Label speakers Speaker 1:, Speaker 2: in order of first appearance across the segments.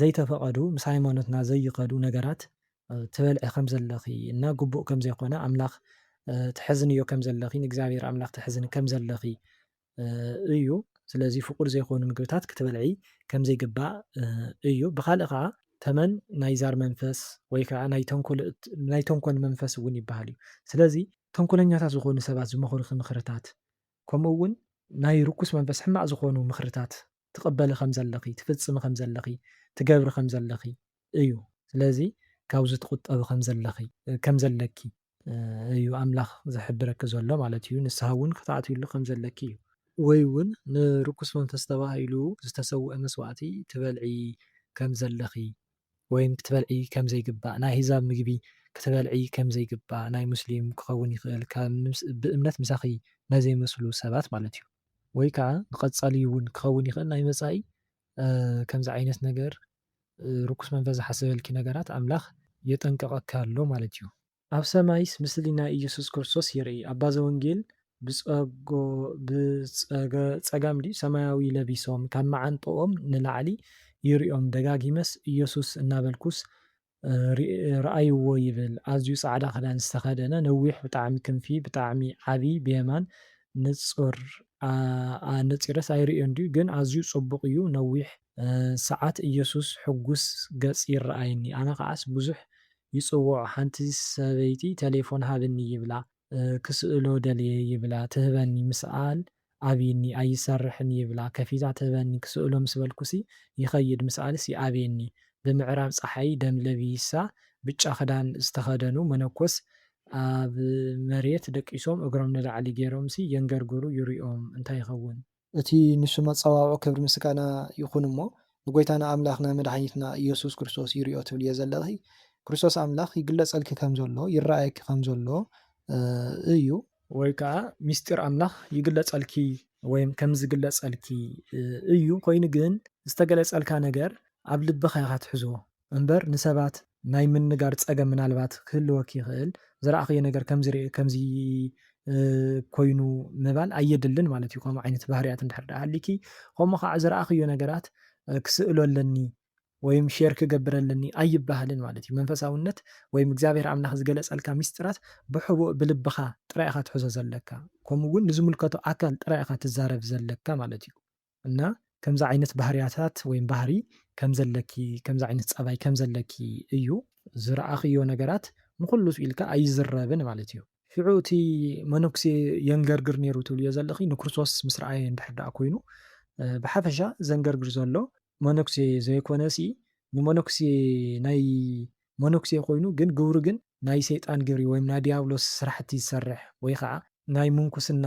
Speaker 1: ዘይተፈቐዱ ምስ ሃይማኖትና ዘይኸዱ ነገራት ትበልዒ ከም ዘለኺ እና ግቡእ ከም ዘይኮነ ኣምላኽ ተሕዝንዮ ከም ዘለኺ ንእግዚኣብሔር ኣምላኽ ተሕዝኒ ከም ዘለኺ እዩ ስለዚ ፍቁድ ዘይኮኑ ምግብታት ክትበልዒ ከም ዘይግባእ እዩ ብኻልእ ከዓ ተመን ናይ ዛር መንፈስ ወይ ከዓ ናይ ተንኮል ናይ ተንኮል መንፈስ እውን ይበሃል እዩ ስለዚ ተንኮለኛታት ዝኾኑ ሰባት ዝመኽሩኺ ምኽርታት ከምኡ እውን ናይ ርኩስ መንፈስ ሕማቅ ዝኾኑ ምኽርታት ትቕበሊ ከም ዘለኺ፣ ትፍጽሚ ከም ዘለኺ፣ ትገብሪ ከም ዘለኺ እዩ። ስለዚ ካብዚ ትቑጠቢ ከም ዘለኺ ከም ዘለኪ እዩ ኣምላኽ ዝሕብረኪ ዘሎ ማለት እዩ። ንስሃ እውን ክትኣትዩሉ ከም ዘለኪ እዩ። ወይ እውን ንርኩስ መንፈስ ተባሂሉ ዝተሰውአ መስዋእቲ ትበልዒ ከም ዘለኺ ወይም ክትበልዒ ከም ዘይግባእ ናይ ኣህዛብ ምግቢ ክትበልዒ ከም ዘይግባእ ናይ ሙስሊም ክኸውን ይኽእል ብእምነት ምሳኺ ናይ ዘይመስሉ ሰባት ማለት እዩ። ወይ ከዓ ንቀፃሊ እውን ክኸውን ይኽእል ናይ መፃኢ ከምዚ ዓይነት ነገር ርኩስ መንፈስ ዝሓሰበልኪ ነገራት ኣምላኽ የጠንቅቐኪ ኣሎ ማለት እዩ። ኣብ ሰማይስ ምስሊ ናይ ኢየሱስ ክርስቶስ ይርኢ ኣባ ዘወንጌል ብጸጋም ድዩ ሰማያዊ ለቢሶም ካብ መዓንጥኦም ንላዕሊ ይሪኦም ደጋጊመስ ኢየሱስ እናበልኩስ ርኣይዎ ይብል ኣዝዩ ጻዕዳ ክዳን ዝተከደነ ነዊሕ ብጣዕሚ ክንፊ ብጣዕሚ ዓቢ ብየማን ንጹር ኣነጺረስ ኣይርእዮን ድዩ ግን ኣዝዩ ጽቡቅ እዩ ነዊሕ ሰዓት እየሱስ ሕጉስ ገጽ ይረኣየኒ ኣነ ከዓስ ብዙሕ ይጽውዖ ሓንቲ ሰበይቲ ተሌፎን ሃብኒ ይብላ ክስእሎ ደልየ ይብላ ትህበኒ ምስኣል ኣብይኒ ኣይሰርሕን ይብላ ከፊታ ትህበኒ ክስእሎ ምስ በልኩሲ ይኸይድ ምስኣልስ ይኣብየኒ ብምዕራብ ጸሓይ ደም ለቢሳ ብጫ ክዳን ዝተኸደኑ መነኮስ ኣብ መሬት ደቂሶም እግሮም ንላዕሊ ጌሮምሲ የንገርግሩ ይሪኦም እንታይ ይኸውን እቲ ንሱ መጸዋውዑ ክብሪ ምስጋና ይኹን እሞ ንጎይታና ኣምላኽና መድሓኒትና እየሱስ ክርስቶስ ይሪኦ ትብልዮ ዘለኺ ክርስቶስ ኣምላኽ ይግለጸልኪ ከም ዘሎ ይረኣየኪ ከም ዘሎ እዩ። ወይ ከኣ ምስጢር ኣምላኽ ይግለጸልኪ ወይም ከም ዝግለጸልኪ እዩ ኮይኑ ግን ዝተገለጸልካ ነገር ኣብ ልብኻ ኢኻ ትሕዞ እምበር ንሰባት ናይ ምንጋር ጸገም ምናልባት ክህልወኪ ይኽእል ዝረኣኽዮ ነገር ከምዚ ሪኤ ከምዚ ኮይኑ ምባል ኣየድልን ማለት እዩ ከምኡ ዓይነት ባህርያት እንድሕር ድኣ ሃሊኪ ከምኡ ከኣ ዝረኣኽዮ ነገራት ክስእሎ ኣለኒ ወይም ሼር ክገብር ኣለኒ ኣይበሃልን ማለት እዩ። መንፈሳውነት ወይም እግዚኣብሔር ኣምላኽ ዝገለጸልካ ምስጢራት ብሕቡእ ብልብኻ ጥራይ ኢኻ ትሕዞ ዘለካ ከምኡ ውን ንዝምልከቶ ኣካል ጥራይ ኢኻ ትዛረብ ዘለካ ማለት እዩ። እና ከምዚ ዓይነት ባህርያታት ወይም ባህሪ ከም ዘለኪ ከምዚ ዓይነት ጸባይ ከም ዘለኪ እዩ። ዝረኣኽዮ ነገራት ንኹሉ ስኢልካ ኣይዝረብን ማለት እዩ። ሽዑ እቲ መነኩሴ የንገርግር ኔሩ ትብልዮ ዘለኺ ንክርስቶስ ምስ ረኣየ እንድሕር ደኣ ኮይኑ ብሓፈሻ ዘንገርግር ዘሎ መነኩሴ ዘይኮነሲ ንመነኩሴ ናይ መነኩሴ ኮይኑ ግን ግብሩ ግን ናይ ሰይጣን ግብሪ ወይም ናይ ድያብሎስ ስራሕቲ ዝሰርሕ ወይ ኸዓ ናይ ምንኩስና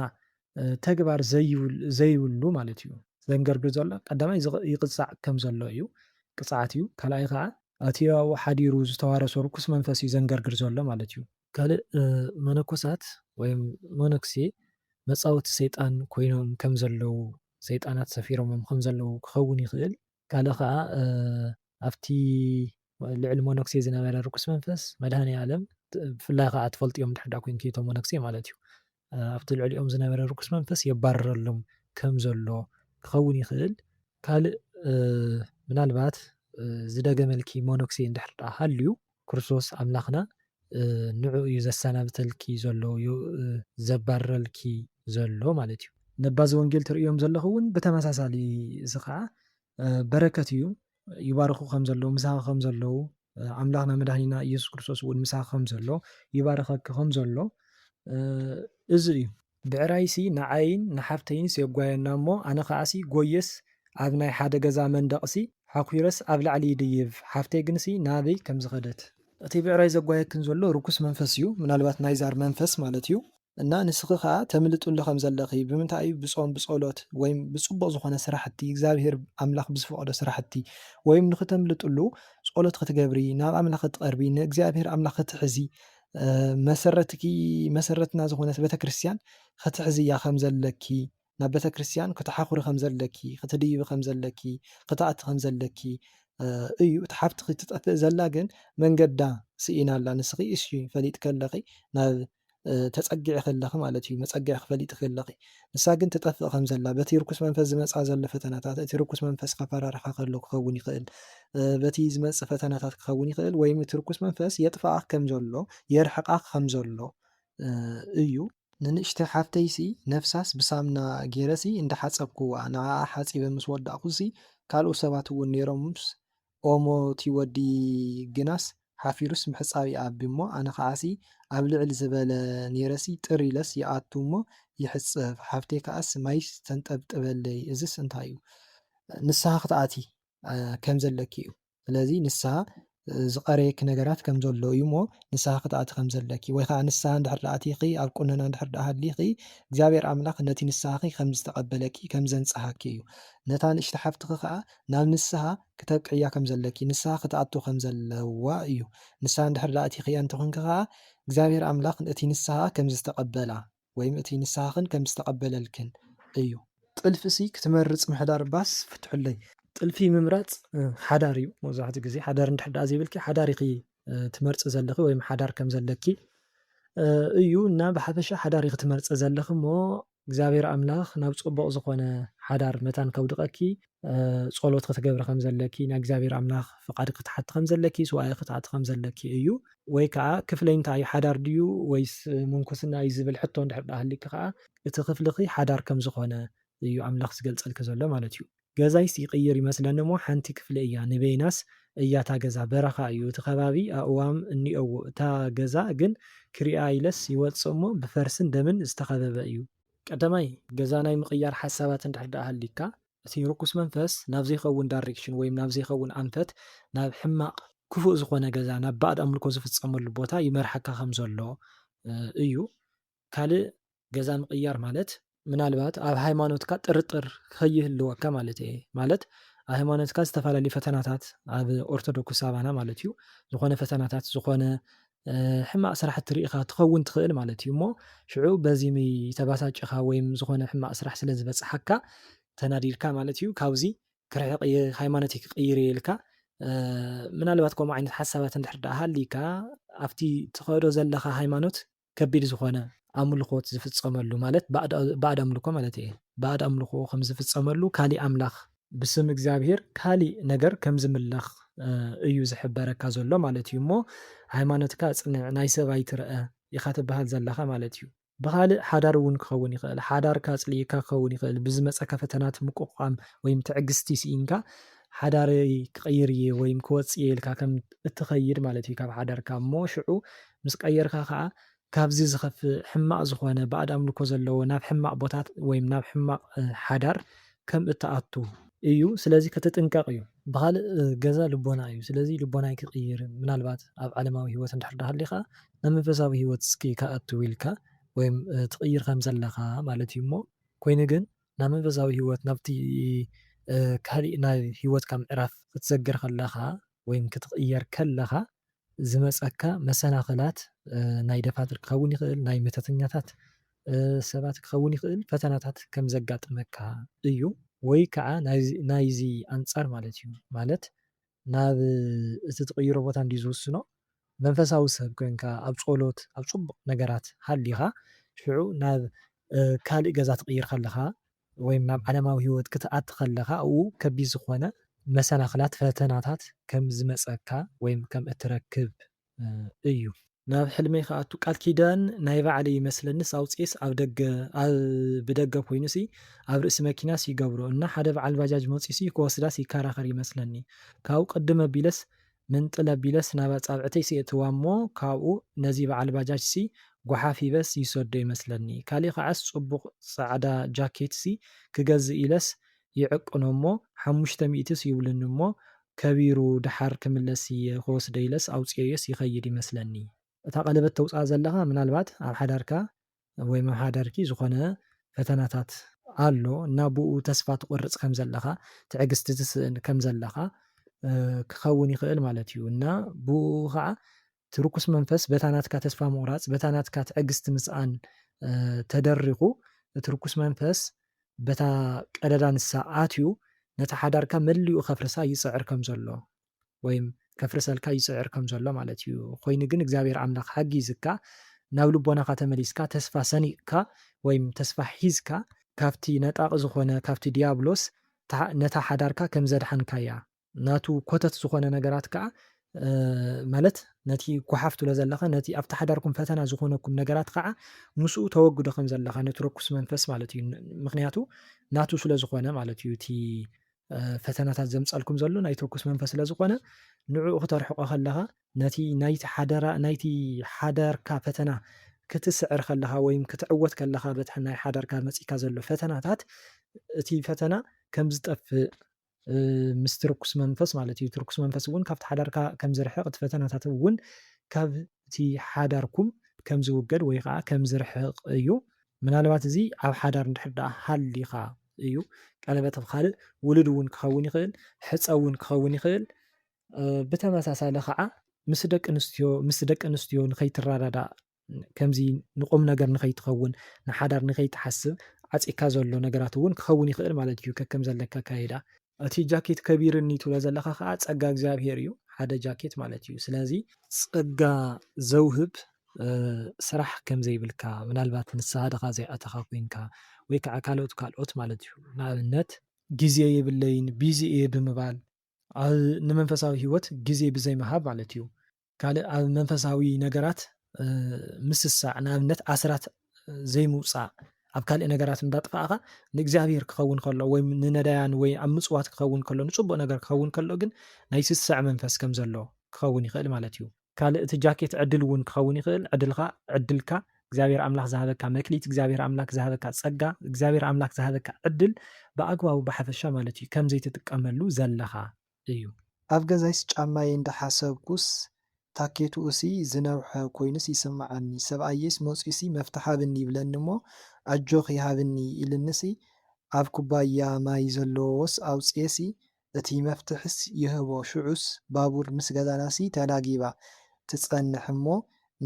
Speaker 1: ተግባር ዘይብሉ ማለት እዩ። ዘንገርግር ዘሎ ቀዳማይ ይቕፃዕ ከም ዘሎ እዩ ቅፅዓት እዩ ካልኣይ ኸዓ ኣቲ ኣብኡ ሓዲሩ ዝተዋረሶ ርኩስ መንፈስ እዩ ዘንገርግር ዘሎ ማለት እዩ። ካልእ መነኮሳት ወይም መነኩሴ መጻወቲ ሰይጣን ኮይኖም ከም ዘለዉ ሰይጣናት ሰፊሮሞም ከም ዘለዉ ክኸውን ይኽእል። ካልእ ከኣ ኣብቲ ልዕሊ መነኩሴ ዝነበረ ርኩስ መንፈስ መድሃኔ ኣለም ብፍላይ ከኣ ትፈልጥዮም እንድሕር ደኣ ኮይንኪ እቶም መነኩሴ ማለት እዩ ኣብቲ ልዕሊኦም ዝነበረ ርኩስ መንፈስ የባርረሎም ከም ዘሎ ክኸውን ይኽእል። ካልእ ምናልባት ዝደገመልኪ ሞኖክሴ እንድሕር ደኣ ሃልዩ ክርስቶስ ኣምላኽና ንዕኡ እዩ ዘሰናብተልኪ ዘሎ ዘባርረልኪ ዘሎ ማለት እዩ። ነባዚ ወንጌል ትርእዮም ዘለኺ እውን ብተመሳሳሊ እዚ ኸኣ በረከት እዩ። ይባርኹ ከም ዘለዉ ምሳኺ ከም ዘለዉ ኣምላኽና መድሃኒና ኢየሱስ ክርስቶስ እውን ምሳኺ ከም ዘሎ ይባርኸኪ ከም ዘሎ እዚ እዩ ብዕራይሲ ንዓይን ንሓፍተይንስ የጓየና እሞ ኣነ ከኣሲ ጎየስ ኣብ ናይ ሓደ ገዛ መንደቕሲ ሓኲረስ ኣብ ላዕሊ ይድይብ ሓፍተይ ግንሲ ናበይ ከም ዝኸደት እቲ ብዕራይ ዘጓየክን ዘሎ ርኩስ መንፈስ እዩ ምናልባት ናይ ዛር መንፈስ ማለት እዩ። እና ንስኺ ከኣ ተምልጥሉ ከም ዘለኺ ብምንታይ እዩ ብጾም ብጸሎት ወይም ብጽቡቕ ዝኾነ ስራሕቲ እግዚኣብሄር ኣምላኽ ብዝፈቐዶ ስራሕቲ ወይም ንኽተምልጥሉ ጸሎት ክትገብሪ ናብ ኣምላኽ ክትቐርቢ ንእግዚኣብሄር ኣምላኽ ክትሕዚ መሰረትኪ መሰረትና ዝኾነት ቤተክርስትያን ክትሕዝያ ከም ዘለኪ ናብ
Speaker 2: ቤተክርስትያን ክተሓኹሪ ከም ዘለኪ ክትድይቢ ከም ዘለኪ ክትኣቲ ከም ዘለኪ እዩ እቲ ሓፍትኺ ትጠፍእ ዘላ ግን መንገዳ ስኢና ኣላ ንስኺ እሺ ፈሊጥኪ ኣለኺ ናብ ተጸጊዕኺ ኣለኺ ማለት እዩ መጸግዕኺ ፈሊጥኪ ኣለኺ ንሳ ግን ትጠፍእ ከም ዘላ በቲ ርኩስ መንፈስ ዝመጽኣ ዘሎ ፈተናታት እቲ ርኩስ መንፈስ ከፈራርሓ ከሎ ክኸውን ይኽእል በቲ ዝመጽእ ፈተናታት ክኸውን ይኽእል ወይም እቲ ርኩስ መንፈስ የጥፍኣ ከም ዘሎ የርሕቃ ከም ዘሎ እዩ ንንእሽተይ ሓፍተይሲ ነብሳስ ብሳምና ጌረሲ እንዳሓጸብኩዋ ንዓኣ ሓጺበ ምስ ወዳእኩሲ ካልኦት ሰባት እውን ኔሮምስ ኦሞ እቲ ወዲ ግናስ ሓፊሩስ ምሕጻብ ይኣቢ እሞ ኣነ ከዓሲ ኣብ ልዕል ዝበለ ኔረሲ ጥር ኢለስ ይኣቱ እሞ ይሕጸብ ሓፍተይ ከዓስ ማይ ተንጠብጥበለይ እዝስ እንታዩ ንስሃ ክትኣትዪ ከምዘለኪ እዩ። ስለዚ ንስሃ ዝቐረየኪ ነገራት ከም ዘሎ እዩ እሞ ንስሃ ክትኣቲ ከም ዘለኪ ወይ ከዓ ንስሃ እንድሕር ደኣ ኣቲኺ ኣብ ቁነና እንድሕር ደኣ ሃሊኺ እግዚኣብሔር ኣምላኽ ነቲ ንስሃኺ ከም ዝተቐበለኪ ከም ዘንጽሃኪ እዩ። ነታ ንእሽቲ ሓፍትኺ ከዓ ናብ ንስሃ ክተብቅዕያ ከም ዘለኪ ንስሃ ክትኣቱ ከም ዘለዋ እዩ። ንስሃ እንድሕር ደኣ ኣቲኽያ እንተኾንኪ ከዓ እግዚኣብሔር ኣምላኽ እቲ ንስሃኣ ከም ዝተቐበላ ወይም እቲ ንስኻኽን ከም ዝተቐበለልክን እዩ። ጥልፊ'ሲ ክትመርጽ ምሕዳር ባስ ፍትሑለይ። ጥልፊ ምምራጽ ሓዳር እዩ መብዛሕትኡ ግዜ። ሓዳር እንድሕር ደኣ ዘይብልኪ ሓዳር ኢኺ ትመርጺ ዘለኺ ወይም ሓዳር ከም ዘለኪ እዩ እና ብሓፈሻ ሓዳር ኢኺ ትመርጺ ዘለኺ እሞ እግዚኣብሔር ኣምላኽ ናብ ጽቡቕ ዝኾነ ሓዳር መታን ከውድቐኪ ጸሎት ክትገብሪ ከም ዘለኪ፣ ናይ እግዚኣብሔር ኣምላኽ ፍቓድ ክትሓቲ ከም ዘለኪ፣ ሱባኤ ክትኣቲ ከም ዘለኪ እዩ። ወይ ከኣ ክፍለይ እንታይ እዩ ሓዳር ድዩ ወይስ ምንኩስና እዩ ዝብል ሕቶ እንድሕር ደኣ ሃልዩኪ ከኣ እቲ ክፍልኺ ሓዳር ከም ዝኾነ እዩ ኣምላኽ ዝገልጸልኪ ዘሎ ማለት እዩ። ገዛይስ ይቅይር ይመስለኒ እሞ ሓንቲ ክፍሊ እያ ንበይናስ እያ እታ ገዛ በረኻ እዩ እቲ ከባቢ ኣእዋም እኒኦዎ እታ ገዛ ግን ክሪኣ ኢለስ ይወጽእ እሞ ብፈርስን ደምን ዝተኸበበ እዩ። ቀዳማይ ገዛ ናይ ምቕያር ሓሳባት እንድሕር ደኣ ሃልዩካ እቲ ርኩስ መንፈስ ናብ ዘይኸውን ዳሬክሽን ወይም ናብ ዘይኸውን ኣንፈት ናብ ሕማቕ፣ ክፉእ፣ ዝኾነ ገዛ ናብ ባእድ ኣምልኮ ዝፍጸመሉ ቦታ ይመርሓካ ከም ዘሎ እዩ። ካልእ ገዛ ምቕያር ማለት። ምናልባት ኣብ ሃይማኖትካ ጥርጥር ከይህልወካ ማለት እየ ማለት ኣብ ሃይማኖትካ ዝተፈላለዩ ፈተናታት ኣብ ኦርቶዶክስ ኣባና ማለት እዩ ዝኾነ ፈተናታት ዝኾነ ሕማቅ ስራሕቲ ሪኢኻ ትኸውን ትኽእል ማለት እዩ እሞ ሽዑ በዚ ተባሳጭኻ ወይም ዝኾነ ሕማቅ ስራሕ ስለ ዝበጽሓካ ተናዲድካ ማለት እዩ ካብዚ ክርሕቅ እየ ሃይማኖተይ ክቅይር እየ ኢልካ ምናልባት ከምኡ ዓይነት ሓሳባት እንድሕር ደኣ ሃልይካ ኣብቲ ትኸዶ ዘለኻ ሃይማኖት ከቢድ ዝኾነ ኣምልኾት ዝፍጸመሉ ማለት ባእድ ኣምልኮ ማለት እየ ባእድ ኣምልኾ ከም ዝፍጸመሉ ካሊእ ኣምላኽ ብስም እግዚኣብሄር ካሊእ ነገር ከም ዝምለኽ እዩ ዝሕበረካ ዘሎ ማለት እዩ እሞ ሃይማኖትካ ኣጽንዕ ናይ ሰብ ኣይትርኣ ኢኻ ትብሃል ዘለኻ ማለት እዩ። ብኻልእ ሓዳር እውን ክኸውን ይኽእል ሓዳርካ ኣጽሊኢካ ክኸውን ይኽእል ብዝመጸካ ፈተናት ምቁቋም ወይም ትዕግስቲ ስኢንካ ሓዳረይ ክቅይር እየ ወይም ክወጽእ እየ ኢልካ ከም እትኸይድ ማለት እዩ ካብ ሓዳርካ እሞ ሽዑ ምስ ቀየርካ ከኣ ካብዚ ዝኸፍእ ሕማቕ ዝኾነ ባእድ ኣምልኮ ዘለዎ ናብ ሕማቕ ቦታት ወይም ናብ ሕማቕ ሓዳር ከም እትኣቱ። እዩ ስለዚ ክትጥንቀቕ እዩ። ብኻልእ ገዛ ልቦና እዩ ስለዚ ልቦናይ ክቕይር ምናልባት ኣብ ዓለማዊ ህይወት እንድሕር ሃሊኻ ናብ መንፈሳዊ ህይወት እስኪ ክኣቱ ኢልካ ወይም ትቕይር ከም ዘለኻ ማለት እዩ እሞ ኮይኑ ግን ናብ መንፈሳዊ ህይወት ናብቲ ካሊእ ናይ ህይወትካ ምዕራፍ ክትሰግር ከለኻ ወይም ክትቕየር ከለኻ ዝመጸካ መሰናኽላት ናይ ደፋትር ክኸውን ይኽእል፣ ናይ መተተኛታት ሰባት ክኸውን ይኽእል፣ ፈተናታት ከም ዘጋጥመካ እዩ። ወይ ከኣ ናይዚ ኣንጻር ማለት እዩ፣ ማለት ናብ እቲ ትቕይሮ ቦታ እንድዩ ዝውስኖ፣ መንፈሳዊ ሰብ ኮንካ ኣብ ጸሎት ኣብ ጽቡቕ ነገራት ሃሊኻ ሽዑ ናብ ካልእ ገዛ ትቕይር ከለኻ ወይም ናብ ዓለማዊ ህይወት ክትኣቲ ከለኻ ኣብኡ ከቢድ ዝኾነ መሰናኽላት፣ ፈተናታት፣ ከም ዝመጸካ ወይም ከም እትረክብ እዩ። ናብ ሕልመይ ክኣቱ ቃል ኪዳን ናይ ባዕለይ ይመስለኒስ ኣውጺኤስ ኣብ ደገ ኣብ ብደገ ኮይኑሲ ኣብ ርእሲ መኪናስ ይገብሮ እና ሓደ በዓል ባጃጅ መጺኡሲ ክወስዳስ ይከራኸር ይመስለኒ ካብኡ ቅድም ኣቢለስ ምንጥል ኣቢለስ ናብ ኣጻብዕተይ ስየእትዋ እሞ ካብኡ ነዚ በዓል ባጃጅሲ ጓሓፍ ሂበስ ይሰዶ ይመስለኒ ካሊእ ከዓስ ጽቡቅ ጻዕዳ ጃኬትሲ ክገዝእ ኢለስ ይዕቅኖ እሞ ሓሙሽተ ሚእትስ ይብሉኒ እሞ ከቢሩ ደሓር ክምለስ እየ ክወስዶ ኢለስ ኣውጺኤዮስ ይከይድ ይመስለኒ። እታ ቀለበት ተውጽኣ ዘለኻ ምናልባት ኣብ ሓዳርካ ወይ መምሓዳርኪ ዝኾነ ፈተናታት ኣሎ እና ብኡ ተስፋ ትቆርጽ ከም ዘለኻ ትዕግስቲ ትስእን ከም ዘለኻ ክኸውን ይኽእል ማለት እዩ እና ብኡ ኸዓ እቲ ርኩስ መንፈስ በታ ናትካ ተስፋ ምቑራጽ በታ ናትካ ትዕግስቲ ምስኣን ተደሪኹ እቲ ርኩስ መንፈስ
Speaker 1: በታ ቀዳዳ ንሳ ኣትዩ ነታ ሓዳርካ መሊኡ ከፍርሳ ይጽዕር ከም ዘሎ ወይም ከፍርሰልካ ይጽዕር ከም ዘሎ ማለት እዩ ኮይኑ ግን እግዚኣብሔር ኣምላኽ ሓጊዝካ ናብ ልቦናኻ ተመሊስካ ተስፋ ሰኒቕካ ወይም ተስፋ ሒዝካ ካብቲ ነጣቒ ዝኾነ ካብቲ ድያብሎስ ነታ ሓዳርካ ከም ዘድሓንካያ ናቱ ኮተት ዝኾነ ነገራት ከኣ ማለት ነቲ ጓሓፍ ትብሎ ዘለኻ ነቲ ኣብቲ ሓዳርኩም ፈተና ዝኾነኩም ነገራት ከኣ ምስኡ ተወግዶ ከም ዘለኻ ነቲ ርኩስ መንፈስ ማለት እዩ ምክንያቱ ናቱ ስለ ዝኾነ ማለት እዩ እቲ ፈተናታት ዘምጻልኩም ዘሎ ናይ ቶኩስ መንፈስ ስለ ዝኾነ ንዕኡ ክተርሕቆ ከለኻ ነቲ ናይቲ ሓደራ ናይቲ ሓዳርካ ፈተና ክትስዕር ከለኻ ወይም ክትዕወት ከለኻ በቲ ናይ ሓዳርካ መጺካ ዘሎ ፈተናታት እቲ ፈተና ከም ዝጠፍእ ምስ ትርኩስ መንፈስ ማለት እዩ ትርኩስ መንፈስ እውን ካብቲ ሓዳርካ ከም ዝርሕቕ እቲ ፈተናታት እውን ካብቲ ሓዳርኩም ከም ዝውገድ ወይ ከዓ ከም ዝርሕቕ እዩ ምናልባት እዚ ኣብ ሓዳር እንድሕር ደኣ ሃሊኻ እዩ ቀለበት ኣብ ካልእ ውሉድ እውን ክኸውን ይኽእል ሕጸ እውን ክኸውን ይኽእል ብተመሳሳሊ ከዓ ምስ ደቂ ኣንስትዮ ምስ ደቂ ኣንስትዮ ንኸይትረዳዳእ ከምዚ ንቁም ነገር ንኸይትኸውን ንሓዳር ንኸይትሓስብ ዓፂካ ዘሎ ነገራት እውን ክኸውን ይኽእል ማለት እዩ ከከም ዘለካ ካይዳ እቲ ጃኬት ከቢርኒ ትብሎ ዘለኻ ከኣ ጸጋ እግዚኣብሄር እዩ ሓደ ጃኬት ማለት እዩ ስለዚ ጸጋ ዘውህብ ስራሕ ከም ዘይብልካ ምናልባት ንስሃ ድኻ ዘይኣተኻ ኮይንካ ወይ ከኣ ካልኦት ካልኦት ማለት እዩ ንኣብነት ግዜ የብለይን ቢዚ እየ ብምባል ኣብ ንመንፈሳዊ ሂወት ግዜ ብዘይምሃብ ማለት እዩ ካልእ ኣብ መንፈሳዊ ነገራት ምስሳዕ ንኣብነት ኣስራት ዘይምውፃእ ኣብ ካልእ ነገራት እንዳጥፋእኻ ንእግዚኣብሔር ክኸውን ከሎ ወይ ንነዳያን ወይ ኣብ ምፅዋት ክኸውን ከሎ ንፅቡቅ ነገር ክኸውን ከሎ ግን ናይ ስስዕ መንፈስ ከም ዘሎ ክኸውን ይኽእል ማለት እዩ ካልእ እቲ ጃኬት ዕድል እውን ክኸውን ይኽእል ዕድልካ ዕድልካ እግዚኣብሔር ኣምላክ ዝሃበካ መክሊት እግዚኣብሔር ኣምላክ ዝሃበካ ፀጋ እግዚኣብሔር ኣምላክ ዝሃበካ ዕድል ብኣግባቡ ብሓፈሻ ማለት እዩ ከም ዘይትጥቀመሉ ዘለኻ እዩ። ኣብ ገዛይስ
Speaker 2: ጫማይ እንዳ ሓሰብኩስ ታኬትኡሲ ዝነውሐ ኮይኑስ ይስምዓኒ ሰብኣየይስ መጽዩሲ መፍትሕ ሃብኒ ይብለኒ እሞ ኣጆኺ ሃብኒ ኢሉኒሲ ኣብ ኩባያ ማይ ዘለዎስ ኣውጽየሲ እቲ መፍትሕስ ይህቦ ሽዑስ ባቡር ምስ ገዛናሲ ተላጊባ ትጸንሕ እሞ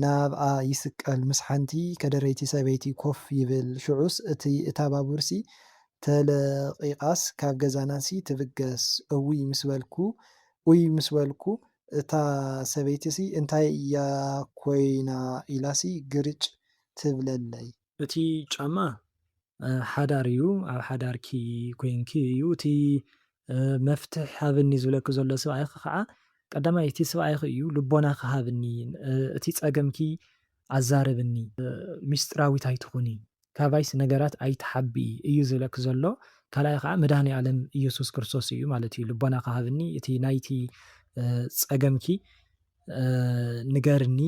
Speaker 2: ናብኣ ይስቀል፣ ምስ ሓንቲ ከደረይቲ ሰበይቲ ኮፍ ይብል፣ ሽዑስ እቲ እታ ባቡርሲ ተለቒቓስ ካብ ገዛናሲ ትብገስ፣ እውይ ምስ በልኩ፣ ኡይ ምስ በልኩ፣ እታ ሰበይቲሲ እንታይ እያ ኮይና ኢላሲ ግርጭ ትብለለይ። እቲ
Speaker 1: ጫማ ሓዳር እዩ ኣብ ሓዳርኪ ኮይንኪ እዩ እቲ መፍትሕ ሃብኒ ዝብለኪ ዘሎ ስብኣይኺ ከዓ ቀዳማይ እቲ ስብኣይኺ እዩ ልቦናኺ ሃብኒ እቲ ፀገምኪ ኣዛርብኒ ሚስጥራዊት ኣይትኹኒ ካባይስ ነገራት ኣይትሓብኢ እዩ ዝብለኪ ዘሎ ካልኣይ ከዓ መድሃኒኣለም እየሱስ ክርስቶስ እዩ ማለት እዩ ልቦናኺ ሃብኒ እቲ ናይቲ ፀገምኪ ንገርኒ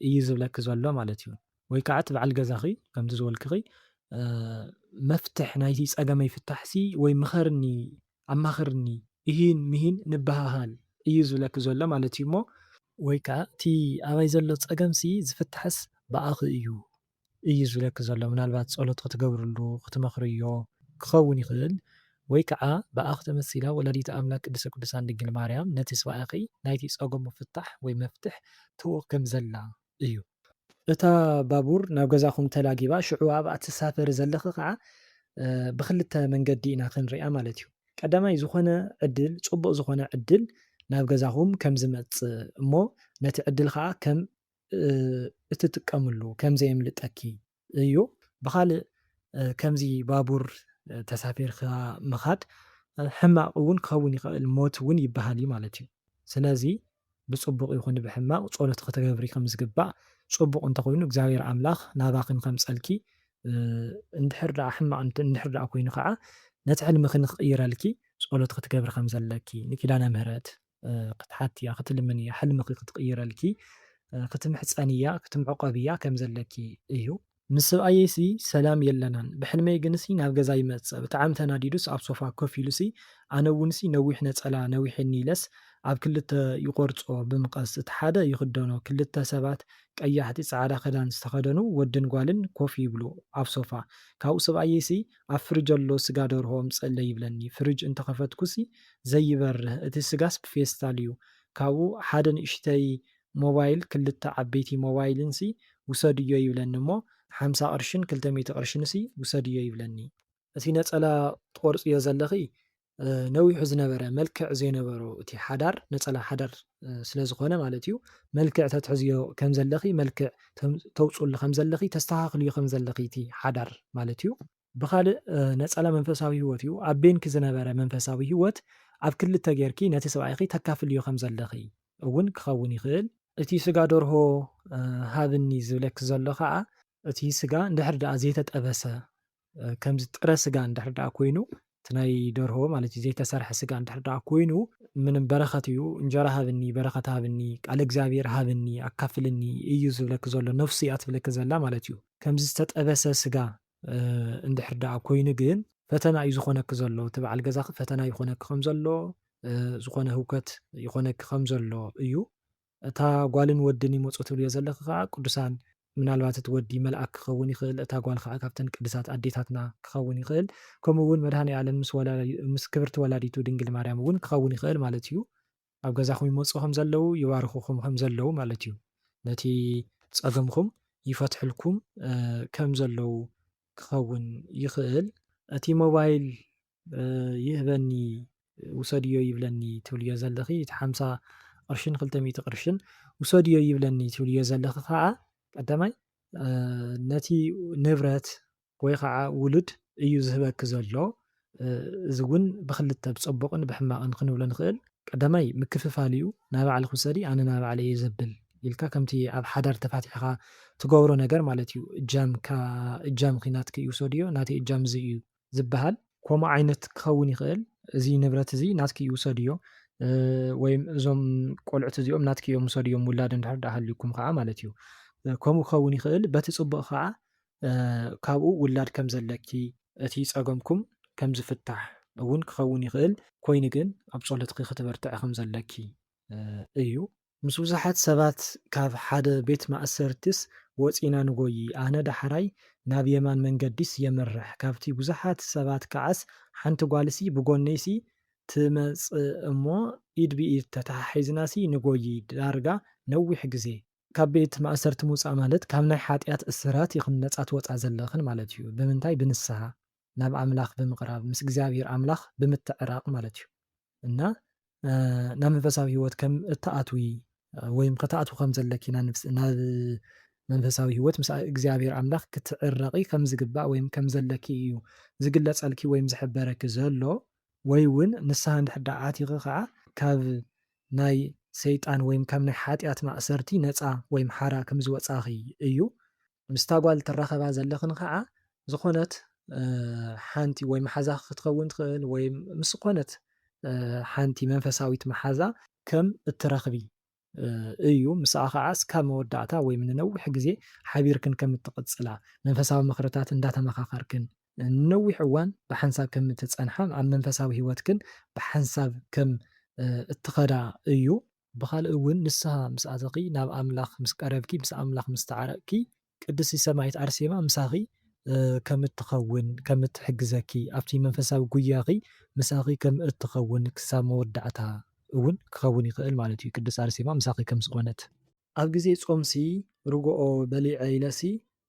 Speaker 1: እዩ ዝብለኪ ዘሎ ማለት እዩ ወይ ከዓ እቲ በዓል ገዛኺ ከምቲ ዝበልክኺ መፍትሕ ናይቲ ፀገመይ ፍታሕሲ ወይ ምኸርኒ ኣማኽርኒ እሂን ምሂን ንበሃሃል እዩ ዝብለኪ ዘሎ ማለት እዩ እሞ ወይ ከዓ እቲ ኣባይ ዘሎ ፀገምሲ ዝፍታሕስ ብኣኺ እዩ እዩ ዝብለኪ ዘሎ ምናልባት ጸሎት ክትገብርሉ ክትመኽርዮ ክኸውን ይኽእል ወይ ከኣ ብኣኺ ተመሲላ ወላዲተ ኣምላክ ቅድስተ ቅዱሳን ድንግል ማርያም ነቲ ስብኣያኺ ናይቲ ጸገሙ ፍታሕ ወይ መፍትሕ ትህቦ ከም ዘላ እዩ። እታ ባቡር ናብ ገዛኹም ተላጊባ ሽዑ ኣብኣ ትሳፈሪ ዘለኺ ከኣ ብኽልተ መንገዲ ኢና ክንሪኣ ማለት እዩ። ቀዳማይ ዝኾነ ዕድል ጽቡቕ ዝኾነ ዕድል ናብ ገዛኹም ከም ዝመጽእ እሞ ነቲ ዕድል ከኣ ከም እትጥቀምሉ ከምዘየምልጠኪ እዩ። ብኻልእ ከምዚ ባቡር ተሳፊርካ ምኻድ ሕማቕ እውን ክኸውን ይኸእል ሞት እውን ይበሃል እዩ ማለት እዩ። ስለዚ ብጽቡቕ ይኹን ብሕማቕ ጸሎት ክትገብሪ ከም ዝግባእ ጽቡቕ እንተኾይኑ እግዚኣብሔር ኣምላኽ ናባኽን ከምጸልኪ እንድሕር ደኣ ሕማቕ እንድሕር ደኣ ኮይኑ ከዓ ነቲ ሕልምኽን ክቕይረልኪ ጸሎት ክትገብሪ ከም ዘለኪ ንኪዳነ ምህረት ክትሓትያ ክትልምንያ ሕልምኺ ክትቕይረልኪ ክትምሕጸንያ ክትምዕቆብያ ከም ዘለኪ እዩ። ምስ ስብኣየይሲ ሰላም የለናን ብሕልመይ ግንሲ ናብ ገዛ ይመጽእ ብጣዕሚ ተናዲዱስ ኣብ ሶፋ ኮፍ ኢሉሲ ኣነ እውንሲ ነዊሕ ነጸላ ነዊሒኒ ኢለስ ኣብ ክልተ ይቆርጾ ብምቀስ እቲ ሓደ ይኽደኖ ክልተ ሰባት ቀያሕቲ ጻዕዳ ክዳን ዝተኸደኑ ወድን ጓልን ኮፍ ይብሉ ኣብ ሶፋ ካብኡ ስብኣየይሲ ኣብ ፍርጅ ኣሎ ስጋ ደርሆ ኣምጽእለይ ይብለኒ ፍርጅ እንተከፈትኩሲ ዘይበርህ እቲ ስጋስ ብፌስታል እዩ ካብኡ ሓደ ንእሽተይ ሞባይል ክልተ ዓበይቲ ሞባይልንሲ ውሰድዮ ይብለኒ እሞ ሓምሳ ቅርሽን ክልተ ሚእቲ ቅርሽንሲ ውሰድዮ ይብለኒ እቲ ነጸላ ትቆርጽዮ ዘለኺ ነዊሑ ዝነበረ መልክዕ ዘይነበሮ እቲ ሓዳር ነጸላ ሓዳር ስለ ዝኾነ ማለት እዩ መልክዕ ተትሕዝዮ ከም ዘለኺ መልክዕ ተውጽሉ ከም ዘለኺ ተስተኻኽልዮ ከም ዘለኺ እቲ ሓዳር ማለት እዩ። ብኻልእ ነጸላ መንፈሳዊ ህይወት እዩ ኣብ ቤንኪ ዝነበረ መንፈሳዊ ህይወት ኣብ ክልተ ጌርኪ ነቲ ሰብኣይኺ ተካፍልዮ ከም ዘለኺ እውን ክኸውን ይኽእል። እቲ ስጋ ደርሆ ሃብኒ ዝብለኪ ዘሎ ከኣ እቲ ስጋ እንድሕር ደኣ ዘይተጠበሰ ከምዚ ጥረ ስጋ እንድሕር ደኣ ኮይኑ እቲ ናይ ደርሆ ማለት እዩ ዘይተሰርሐ ስጋ እንድሕር ደኣ ኮይኑ ምንም በረኸት እዩ እንጀራ ሃብኒ በረኸት ሃብኒ ቃል እግዚኣብሔር ሃብኒ ኣካፍልኒ እዩ ዝብለኪ ዘሎ ነፍሱ እያ ትብለኪ ዘላ ማለት እዩ ከምዚ ዝተጠበሰ ስጋ እንድሕር ደኣ ኮይኑ ግን ፈተና እዩ ዝኾነኪ ዘሎ እቲ በዓል ገዛኺ ፈተና ይኾነኪ ከም ዘሎ ዝኾነ ህውከት ይኾነኪ ከም ዘሎ እዩ እታ ጓልን ወድን ይመጹ ትብልዮ ዘለኺ ከኣ ቅዱሳን ምናልባት እቲ ወዲ መልኣክ ክኸውን ይኽእል እታ ጓል ከኣ ካብተን ቅድሳት ኣዴታትና ክኸውን ይኽእል ከምኡ ውን መድሃኒኣለም ምስ ወላዲቱ ምስ ክብርቲ ወላዲቱ ድንግል ማርያም ውን ክኸውን ይኽእል ማለት እዩ ኣብ ገዛኹም ይመጹ ከም ዘለዉ ይባርኹኹም ከም ዘለዉ ማለት እዩ ነቲ ጸገምኹም ይፈትሕልኩም ከም ዘለዉ ክኸውን ይኽእል እቲ ሞባይል ይህበኒ ውሰድዮ ይብለኒ ትብልዮ ዘለኺ እቲ ሓምሳ ቅርሽን ክልተ ሚእቲ ቅርሽን ውሰድዮ ይብለኒ ትብልዮ ዘለኺ ከዓ ቀዳማይ ነቲ ንብረት ወይ ከዓ ውሉድ እዩ ዝህበኪ ዘሎ እዚ እውን ብክልተ ብፀቡቕን ብሕማቕን ክንብሎ ንኽእል ቀዳማይ ምክፍፋል እዩ ናይ ባዕልክ ውሰዲ ኣነ ናይ ባዕለ እየ ዘብል ኢልካ ከምቲ ኣብ ሓዳር ተፋቲሕኻ ትገብሮ ነገር ማለት እዩ እጃምካ እጃም ኺናትክ እዩ ውሰድዮ ናተይ እጃም እዚ እዩ ዝበሃል። ኮምኡ ዓይነት ክኸውን ይኽእል እዚ ንብረት እዚ ናትኪ እዩ ውሰድዮ ወይም እዞም ቆልዑት እዚኦም ናትኪ እዮም ውሰድዮም ውላድ እንድሕር ደኣ ሃልዩኩም ኸዓ ማለት እዩ ከምኡ ክኸውን ይኽእል በቲ ጽቡቕ ኸዓ ካብኡ ውላድ ከም ዘለኪ እቲ ጸገምኩም ከም ዝፍታሕ እውን ክኸውን ይኽእል። ኮይኑ ግን ኣብ ጸሎትኪ ክትበርትዒ ከም ዘለኪ እዩ ምስ ብዙሓት ሰባት ካብ ሓደ ቤት ማእሰርቲስ ወጺና ንጎዪ፣ ኣነ ዳሕራይ ናብ የማን መንገዲስ የምርሕ፣ ካብቲ ብዙሓት ሰባት ከኣስ ሓንቲ ጓልሲ ብጎነይሲ ትመጽእ'ሞ ኢድ ብኢድ ተተሓሒዝናሲ ንጎዪ፣ ዳርጋ ነዊሕ ግዜ። ካብ ቤት ማእሰርቲ ምውጻእ ማለት ካብ ናይ ሓጥያት እስራት ኢኽን ነጻ ትወጻ ዘለኽን ማለት'ዩ፣ ብምንታይ? ብንስሃ። ናብ ኣምላኽ ብምቕራብ ምስ እግዚኣብሔር ኣምላኽ ብምትዕራቕ ማለት እዩ እና ናብ መንፈሳዊ ህይወት ከም እትኣትዊ ወይም ከተኣትዊ ከም ዘለኪ ናብ መንፈሳዊ ህይወት ምስ እግዚኣብሔር ኣምላኽ ክትዕረቂ ከም ዝግባእ ወይም ከም ዘለኪ እዩ ዝግለጸልኪ ወይም ዝሕበረኪ ዘሎ ወይ እውን ንስሓ እንድሕር ደኣ ኣቲኺ ከዓ ካብ ናይ ሰይጣን ወይም ካብ ናይ ሓጢኣት ማእሰርቲ ነፃ ወይም ሓራ ከም ዝወፃኺ እዩ ምስታ ጓል ትራኸባ ዘለኽን ኸዓ ዝኾነት ሓንቲ ወይ መሓዛኺ ክትኸውን ትኽእል ወይ ምስ ዝኾነት ሓንቲ መንፈሳዊት መሓዛ ከም እትረኽቢ እዩ። ምስኣ ኸዓ እስካብ መወዳእታ ወይ ንነዊሕ ግዜ ሓቢርክን ከም እትቕፅላ፣ መንፈሳዊ ምኽርታት እንዳተመኻኸርክን ንነዊሕ እዋን ብሓንሳብ ከም እትፀንሓ፣ ኣብ መንፈሳዊ ህይወትክን ብሓንሳብ ከም እትኸዳ እዩ። ብኻልእ እውን ንስሃ ምስ ኣተኺ ናብ ኣምላኽ ምስ ቀረብኪ ምስ ኣምላኽ ምስ ተዓረቅኪ ቅድስቲ ሰማኢት ኣርሴማ ምሳኺ ከም እትኸውን ከም እትሕግዘኪ ኣብቲ መንፈሳዊ ጉያኺ ምሳኺ ከም እትኸውን ክሳብ መወዳእታ እውን ክኸውን ይኽእል ማለት እዩ ቅድስት ኣርሴማ ምሳኺ ከም ዝኾነት። ኣብ ግዜ ጾምሲ ርጎኦ በሊዐ ኢለሲ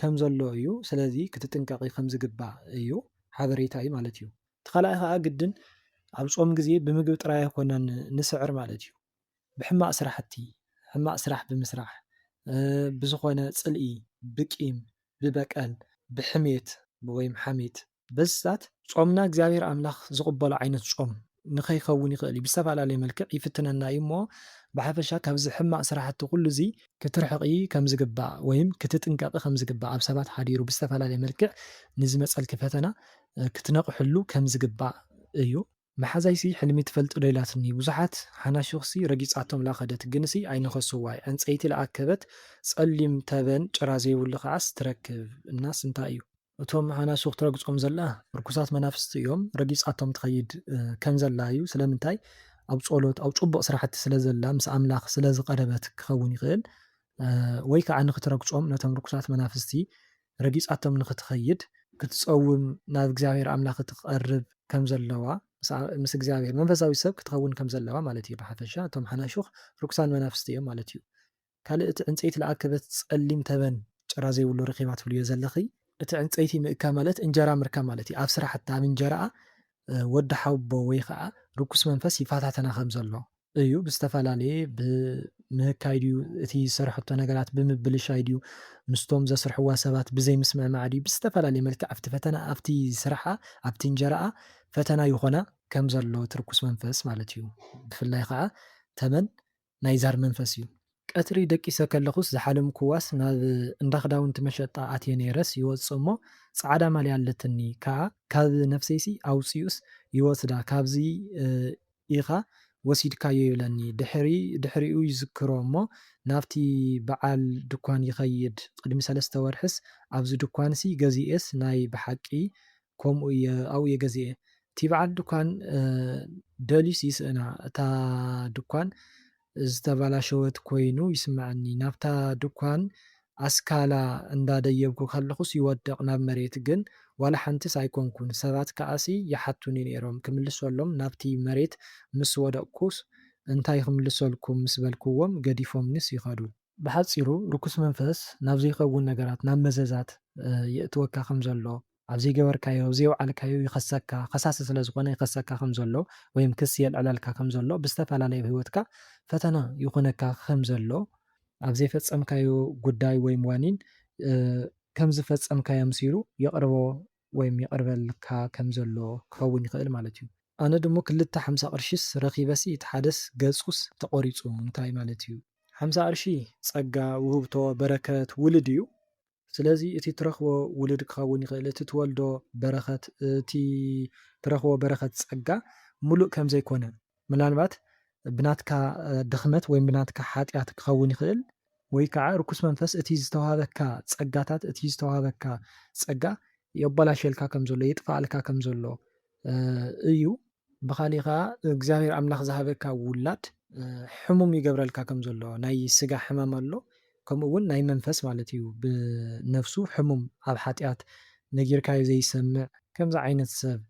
Speaker 1: ከም ዘሎ እዩ ስለዚ ክትጥንቀቂ ከም ዝግባእ እዩ ሓበሬታ እዩ ማለት እዩ። እቲ ካልኣይ ከኣ ግድን ኣብ ጾም ግዜ ብምግቢ ጥራይ ኣይኮናን ንስዕር ማለት እዩ ብሕማቅ ስራሕቲ ሕማቅ ስራሕ ብምስራሕ ብዝኮነ ጽልኢ ብቂም ብበቀል ብሕሜት ወይም ሓሜት በዚታት ጾምና እግዚኣብሔር ኣምላኽ ዝቕበሎ ዓይነት ጾም ንኸይከውን ይኽእል እዩ። ብዝተፈላለየ መልክዕ ይፍትነና እዩ እሞ ብሓፈሻ ካብዚ ሕማቕ ስራሕቲ ኩሉ እዚ ክትርሕቒ ከምዝግባእ ወይም ክትጥንቀቒ ከምዝግባእ ኣብ ሰባት ሓዲሩ ብዝተፈላለየ መልክዕ ንዝመጸልኪ ፈተና ክትነቕሕሉ ከምዝግባእ እዩ። መሓዛይሲ ሕልሚ ትፈልጥ ዶ ኢላትኒ ብዙሓት ሓናሹኽሲ ረጊጻቶም ላከደት ግንሲ ኣይነኸሱዋይ ዕንጸይቲ ላኣከበት ጸሊም ተበን ጭራ ዘይብሉ ካዓስ ትረክብ እናስ እንታይ እዩ እቶም ሓናሹኽ ትረግጾም ዘላ ርኩሳት መናፍስቲ እዮም ረጊጻቶም ትኸይድ ከምዘላ እዩ ስለምንታይ ኣብ ጾሎት ኣብ ጹቡቕ ስራሕቲ ስለዘላ ምስ ኣምላኽ ስለዝቐረበት ክኸውን ይኽእል ወይ ካዓ ንኽትረግጾም ነቶም ርኩሳት መናፍስቲ ረጊጻቶም ንኽትኸይድ፣ ክትጸውም፣ ናብ እግዚኣብሄር ኣምላኽ ክትቐርብ ከም ዘለዋ፣ ምስ እግዚኣብሄር መንፈሳዊት ሰብ ክትኸውን ከም ዘለዋ ማለት እዩ። ብሓፈሻ እቶም ሓናሹኽ ርኩሳን መናፍስቲ እዮም ማለት እዩ። ካልእ እቲ ዕንጸይቲ ልኣከበት ጸሊም ተበን ጭራ ዘይብሉ ረኺባ ትብልዮ ዘለኺ፣ እቲ ዕንጸይቲ ምእካ ማለት እንጀራ ምርካብ ማለት እዩ፣ ኣብ ስራሕታ ኣብ እንጀራኣ ወዲ ሓውቦ ወይ ኸኣ ርኩስ መንፈስ ይፈታተና ከም ዘሎ። እዩ ብዝተፈላለየ ብምህካይ ድዩ እቲ ዝሰርሐቶ ነገራት ብምብልሻይ ድዩ ምስቶም ዘስርሕዋ ሰባት ብዘይ ምስምዕማዕ ድዩ ብዝተፈላለየ መልክዕ ኣብቲ ፈተና ኣብቲ ስርሓ ኣብቲ እንጀራኣ ፈተና ይኾና ከም ዘሎ እቲ ርኩስ መንፈስ ማለት እዩ ብፍላይ ኸኣ ተመን ናይ ዛር መንፈስ እዩ። ቀትሪ ደቂሰ ከለኹስ ዝሓለምኩዋስ ናብ እንዳ ክዳውንቲ መሸጣ ኣትየ ነይረስ ይወጽእ እሞ ጻዕዳ ማልያ ኣለትኒ ከኣ ካብ ነፍሰይሲ ኣውጺኡስ ይወስዳ ካብዚ ኢኻ ወሲድካዮ ይብለኒ ድሕሪ ድሕሪኡ ይዝክሮ እሞ ናብቲ በዓል ድኳን ይኸይድ ቅድሚ ሰለስተ ወርሕስ ኣብዚ ድኳንሲ ገዚኤስ ናይ ብሓቂ ኮምኡ እየ ኣብኡ እየ ገዚኤ። እቲ በዓል ድኳን ደልዩስ ይስእና እታ ድኳን ዝተበላሸወት ኮይኑ ይስመዐኒ ናብታ ድኳን ኣስካላ እንዳ ደየብኩ ከለኩስ ይወድቅ ናብ መሬት ግን ዋላ ሓንቲስ ኣይኮንኩን ሰባት ከኣሲ ይሓቱኒ ነይሮም ክምልሰሎም ናብቲ መሬት ምስ ወደቅኩስ እንታይ ክምልሰልኩም ምስ በልክዎም ገዲፎምኒስ ይከዱ። ብሓጺሩ ርኩስ መንፈስ ናብ ዘይከውን ነገራት ናብ መዘዛት የእትወካ ከም ዘሎ ኣብ ዘይገበርካዮ ኣብ ዘይውዓልካዮ ይኸሰካ ከሳሲ ስለ ዝኾነ ይኸሰካ ከም ዘሎ ወይም ክሲ የልዕለልካ ከም ዘሎ ብዝተፈላለየ ኣብ ህይወትካ ፈተና ይኹነካ ከም ዘሎ ኣብ ዘይፈጸምካዮ ጉዳይ ወይም ዋኒን ከም ዝፈጸምካዮ ኣምሲሉ የቕርቦ ወይም የቕርበልካ ከም ዘሎ ክኸውን ይኽእል ማለት እዩ። ኣነ ድሞ ክልተ ሓምሳ ቅርሺስ ረኺበሲ እቲ ሓደስ ገጹስ ተቖሪጹ እንታይ ማለት እዩ? ሓምሳ ቅርሺ ጸጋ፣ ውህብቶ፣ በረከት፣ ውልድ እዩ። ስለዚ እቲ ትረኽቦ ውሉድ ክኸውን ይኽእል፣ እቲ ትወልዶ በረኸት፣ እቲ ትረኽቦ በረኸት ጸጋ ምሉእ ከም ዘይኮነ፣ ምናልባት ብናትካ ድኽመት ወይ ብናትካ ሓጢኣት ክኸውን ይኽእል፣ ወይ ከኣ ርኩስ መንፈስ እቲ ዝተዋህበካ ጸጋታት፣ እቲ ዝተዋህበካ ጸጋ የባላሽየልካ ከም ዘሎ፣ የጥፍኣልካ ከም ዘሎ እዩ። ብኻሊእ ከኣ እግዚኣብሔር ኣምላኽ ዝሃበካ ውላድ ሕሙም ይገብረልካ ከም ዘሎ ናይ ስጋ ሕማም ኣሎ ከምኡ ውን ናይ መንፈስ ማለት እዩ ብነፍሱ ሕሙም ኣብ ሓጢኣት ነጊርካዮ ዘይሰምዕ ከምዚ ዓይነት ሰብ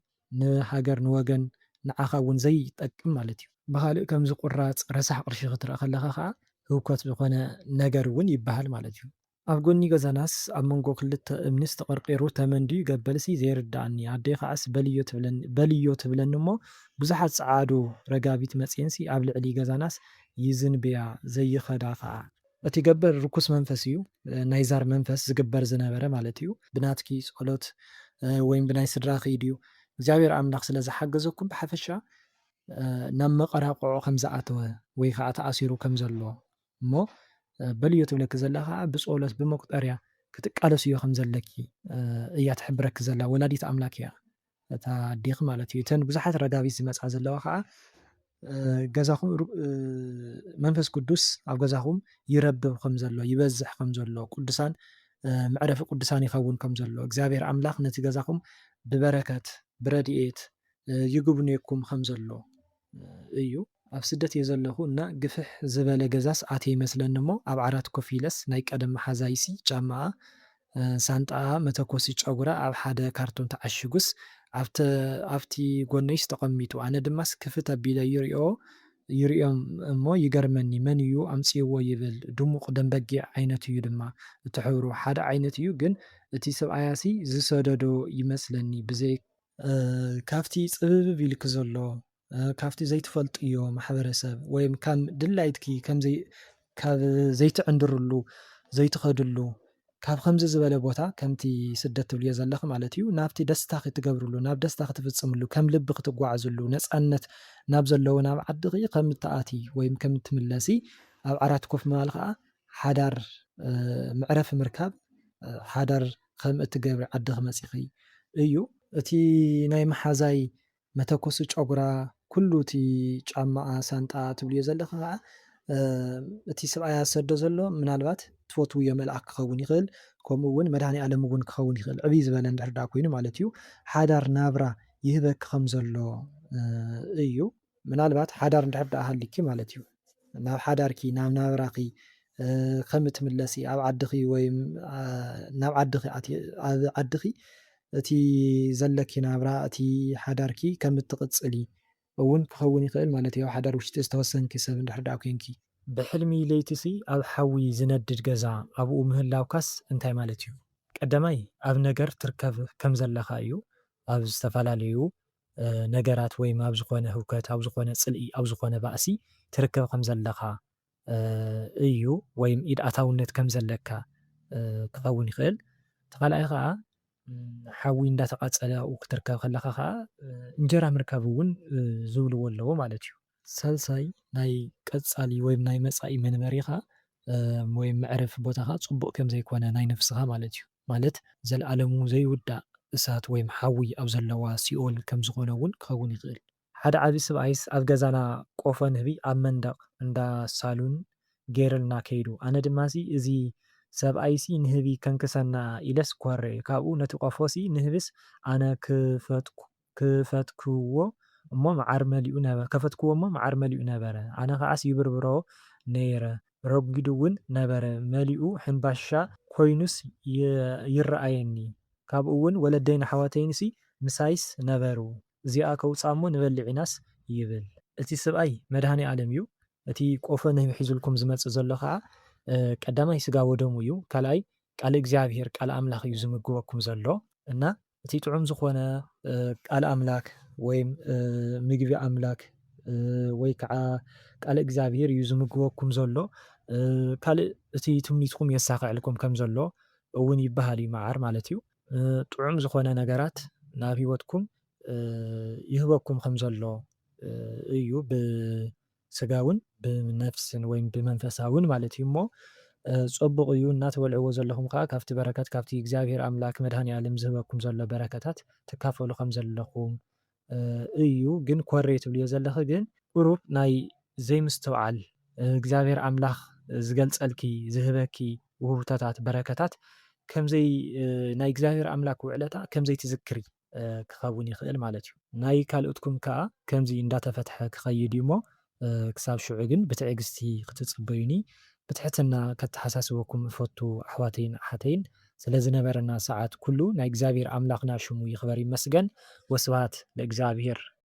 Speaker 1: ንሃገር ንወገን ንዓኻ ውን ዘይጠቅም ማለት እዩ። ብኻሊእ ከምዚ ቁራጽ ረሳሕ ቅርሺ ክትርእ ከለኻ ከኣ ህውከት ዝኾነ ነገር ውን ይበሃል ማለት እዩ። ኣብ ጎኒ ገዛናስ ኣብ መንጎ ክልተ እምኒስ ተቐርቒሩ ተመን ድዩ ገበልሲ ዘይርደኣኒ ኣደይ ከዓስ በልዮ ትብለኒ በልዮ ትብለኒ እሞ ብዙሓት ጸዓዱ ረጋቢት መጺኤንሲ ኣብ ልዕሊ ገዛናስ ይዝንብያ ዘይኸዳ ከኣ እቲ ገበል ርኩስ መንፈስ እዩ ናይ ዛር መንፈስ ዝግበር ዝነበረ ማለት እዩ። ብናትኪ ጸሎት ወይም ብናይ ስድራኺ ድዩ እግዚኣብሔር ኣምላኽ ስለ ዝሓገዘኩም ብሓፈሻ ናብ መቐራቕዖ ከም ዝኣተወ ወይ ከኣ ተኣሲሩ ከም ዘሎ እሞ በልዮ ትብለኪ ዘላ ከኣ ብጾሎት ብመቁጠርያ ክትቃለስዮ ከም ዘለኪ እያ ትሕብረኪ ዘላ ወላዲት ኣምላክ እያ እታ ኣዴኪ ማለት እዩ እተን ብዙሓት ረጋቢት ዝመጻ ዘለዋ ከኣ ገዛኹም መንፈስ ቅዱስ ኣብ ገዛኹም ይረብብ ከም ዘሎ ይበዝሕ ከም ዘሎ ቅዱሳን መዕረፊ ቅዱሳን ይኸውን ከም ዘሎ እግዚኣብሔር ኣምላኽ ነቲ ገዛኹም ብበረከት ብረድኤት ይጉብንየኩም ከም ዘሎ እዩ ኣብ ስደት እየ ዘለኩ እና ግፍሕ ዝበለ ገዛስ ኣትየ ይመስለኒ እሞ ኣብ ዓራት ኮፍ ኢለስ ናይ ቀደም መሓዛይሲ ጫማኣ ሳንጣኣ መተኮሲ ጨጉራ ኣብ ሓደ ካርቶን ተዓሺጉስ ኣብቲ ጎነይስ ተቀሚጡ ኣነ ድማስ ክፍት ኣቢለ ይሪኦ ይሪኦም እሞ ይገርመኒ መን እዩ ኣምፂእዎ ይብል ድሙቅ ደም በጊዕ ዓይነት እዩ ድማ እቲ ሕብሩ ሓደ ዓይነት እዩ ግን እቲ ሰብኣያሲ ዝሰደዶ ይመስለኒ ብዘይ ካብቲ ጽብብብ ኢልኪ ዘሎ ካብቲ ዘይትፈልጥዮ ማሕበረሰብ ወይም ከም ድላይትኪ ከምዘይ ካብ ዘይትዕንድርሉ ዘይትኸድሉ ካብ ከምዚ ዝበለ ቦታ ከምቲ ስደት ትብልዮ ዘለኺ ማለት እዩ ናብቲ ደስታ ክትገብርሉ ናብ ደስታ ክትፍጽምሉ ከም ልቢ ክትጓዓዝሉ ነፃነት ናብ ዘለዎ ናብ ዓድኺ ከም እትኣቲ ወይም ከም እትምለሲ ኣብ ዓራት ኮፍ ምባል ከዓ ሓዳር መዕረፊ ምርካብ ሓዳር ኸም እትገብሪ ዓድኺ መጺኺ እዩ። እቲ ናይ መሓዛይ መተኮሲ ጨጉራ፣ ኩሉ እቲ ጫማኣ፣ ሳንጣኣ ትብልዮ ዘለኺ ኸኣ እቲ ስብኣያ ዝሰዶ ዘሎ ምናልባት ትፈትውዮ መልኣኽ ክኸውን ይኽእል፣ ከምኡ
Speaker 2: እውን መድሃኒኣለም እውን ክኸውን ይኽእል፣ ዕብይ ዝበለ እንድሕር ደኣ ኮይኑ ማለት እዩ። ሓዳር ናብራ ይህበኪ ኸም ዘሎ እዩ። ምናልባት ሓዳር እንድሕር ደኣ ሃልዩኪ ማለት እዩ ናብ ሓዳርኪ ናብ ናብራኺ ከም እትምለሲ ኣብ ዓድኺ ወይ ናብ ዓድኺ ኣብ ዓድኺ እቲ ዘለኪ ናብራ እቲ ሓዳርኪ ከም እትቕጽሊ እውን ክኸውን ይኽእል ማለት እዩ ኣብ ሓዳር ውሽጢ ዝተወሰንኪ ሰብ እንድሕር ደኣ ኮንኪ። ብሕልሚ
Speaker 1: ለይቲሲ ኣብ ሓዊ ዝነድድ ገዛ ኣብኡ ምህላውካስ እንታይ ማለት እዩ? ቀዳማይ ኣብ ነገር ትርከብ ከም ዘለኻ እዩ ኣብ ዝተፈላለዩ ነገራት ወይም ኣብ ዝኾነ ህውከት ኣብ ዝኾነ ጽልኢ ኣብ ዝኾነ ባእሲ ትርከብ ከም ዘለኻ እዩ ወይም ኢድ ኣታውነት ከም ዘለካ ክኸውን ይኽእል። እቲ ካልኣይ ኸኣ ሓዊ እንዳተቓጸለ ኣብኡ ክትርከብ ከለኻ ኸኣ እንጀራ ምርካብ እውን ዝብልዎ ኣለዎ ማለት እዩ። ሳልሳይ ናይ ቀጻሊ ወይም ናይ መጻኢ መንበሪኻ ወይም መዕረፊ ቦታኻ ጽቡቕ ከም ዘይኮነ ናይ ነፍስኻ ማለት እዩ ማለት ዘልኣለሙ ዘይውዳእ እሳት ወይም ሓዊ ኣብ ዘለዋ ሲኦል ከም ዝኾነ እውን ክኸውን ይኽእል። ሓደ ዓቢ ስብኣይስ ኣብ ገዛና ቆፎ ንህቢ ኣብ መንደቕ እንዳ ሳሉን ገይርልና ከይዱ ኣነ ድማሲ እዚ ሰብኣይሲ ንህቢ ከንክሰና ኢለስ ኮሬ ካብኡ ነቲ ቆፎሲ ንህብስ ኣነ ክፈትኩ ክፈትክዎ እሞ መዓር መሊኡ ነበረ ከፈትክዎ እሞ መዓር መሊኡ ነበረ ኣነ ከዓስ ይብርብሮ ነይረ ረጒዱ ውን ነበረ መሊኡ ሕንባሻ ኮይኑስ ይረኣየኒ ካብኡ ውን ወለደይን ኣሕዋተይንሲ ምሳይስ ነበሩ እዚኣ ከውጻ እሞ ንበልዕ ኢናስ ይብል። እቲ ስብኣይ መድሃኒኣለም እዩ እቲ ቆፎ ንህቢ ሒዙልኩም ዝመጽእ ዘሎ ከኣ ቀዳማይ ስጋ ወደሙ እዩ ካልኣይ ቃል እግዚኣብሄር ቃል ኣምላኽ እዩ ዝምግበኩም ዘሎ እና እቲ ጥዑም ዝኾነ ቃል ኣምላክ ወይም ምግቢ ኣምላክ ወይ ከዓ ቃል እግዚኣብሔር እዩ ዝምግበኩም ዘሎ ካልእ እቲ ትምኒትኩም የሳኽዐልኩም ከም ዘሎ እውን ይበሃል እዩ መዓር ማለት እዩ ጥዑም ዝኾነ ነገራት ናብ ህይወትኩም ይህበኩም ከም ዘሎ እዩ ብ ስጋውን ብነፍስን ወይ ብመንፈሳውን ማለት እዩ እሞ ጸቡቕ እዩ እናተበልዕዎ ዘለኹም ከኣ ካብቲ በረከት ካብቲ እግዚኣብሔር ኣምላክ መድኃኒዓለም ዝህበኩም ዘሎ በረከታት ትካፈሉ ከም ዘለኹም እዩ ግን ኮሬ ትብልዮ ዘለኺ ግን ቁሩብ ናይ ዘይምስትውዓል እግዚኣብሔር ኣምላኽ ዝገልጸልኪ ዝህበኪ ውህብቶታት በረከታት ከምዘይ ናይ እግዚኣብሔር ኣምላክ ውዕለታ ከምዘይትዝክሪ ክከውን ይክእል ማለት እዩ ናይ ካልኦትኩም ከኣ ከምዚ እንዳተፈትሐ ክከይድ እዩ እሞ ክሳብ ሽዑ ግን ብትዕግስቲ ክትጽበዩኒ ብትሕትና ከተሓሳስበኩም እፈቱ ኣሕዋተይን ኣሓተይን ስለ ዝነበረና ሰዓት ኩሉ ናይ እግዚኣብሄር ኣምላክና ሽሙ ይክበር ይመስገን ወስብሃት ለእግዚኣብሄር።